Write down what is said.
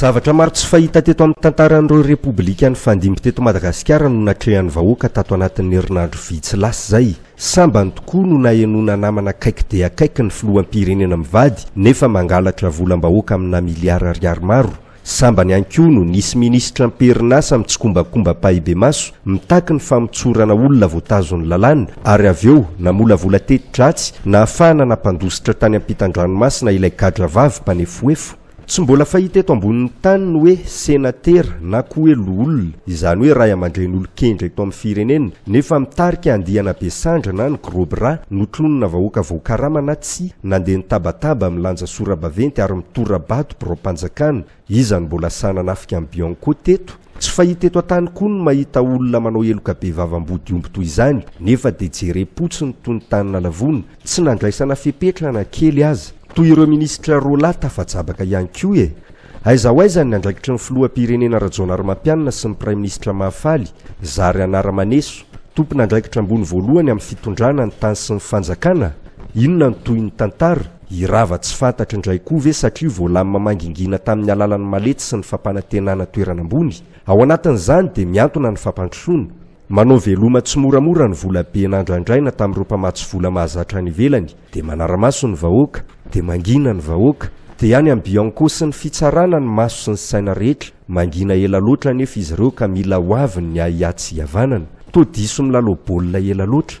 Zavatra maro tsy fahita teto amin'ny tantaran'ireo Repoblika nifandimby teto Madagasikara no natrehan'ny vahoaka tato anatin'ny herinandro vitsy lasa izay. Sambany tokoa no nahenoana namana akaiky dia akaiky ny filoham-pirenena mivady nefa mangalatra volam-bahoaka aminà miliara ariary maro. Sambany ihany koa no nisy minisitra am-perinasa mitsikombakomba ampahibemaso mitaky ny famotsorana olona voatazon'ny lalàna ary avy eo namolavola teti-dratsy nahafahana nampandositra tany ampitan-dranomasina ilay gadra vavy mpanefohefo Tsy mbola fahita eto ambonin'ny tany ny hoe senatera na koa hoe loholona, izany hoe ray aman-dreny olon-kendry eto amin'ny firenena, nefa mitarika andiana be sandry na ny gros bras, notlonina vahoaka voakarama na tsia, nandeha nitabataba, milanja sora-baventy ary mitora-bato biraom-panjakana. Iza no mbola sahy nanafika an'i Bianco teto? Tsy fahita eto an-tany koa ny mahita olona manao heloka be vava ambody omby toy izany, nefa dia jerem-potsiny toy ny tany nalavona, tsy nandraisana fepetra na kely aza. Toy ireo minisitra roa lahy tafajabaka ihany koa e! Aiza ho aiza ny andraikitry ny filoham-pirenena Rajaonarimampianina sy ny praiminisitra Mahafaly, zary anara-maneso, tompon'andraikitra ambony voalohany amin'ny fitondrana ny tany sy ny fanjakana? Inona no tohin'ny tantara? Hirava tsy fantatro indray koa ve satria voalamina mangingina tamin'ny alalan'ny malety sy ny fampanantenana toerana ambony? Ao anatin'izany dia miantona ny fampandrosoana. Manao veloma tsimoramora ny vola be nandrandraina tamin'ireo mpamatsy vola mahazatra any ivelany, dia manara-maso ny vahoaka, dia mangina ny vahoaka. Dia any amin'ny Bianco sy ny Fitsarana ny maso sy ny saina rehetra, mangina ela loatra anefa izy ireo ka mila ho avy ny ahiahy tsy hihavanana. Toa diso milalao baolina ela loatra.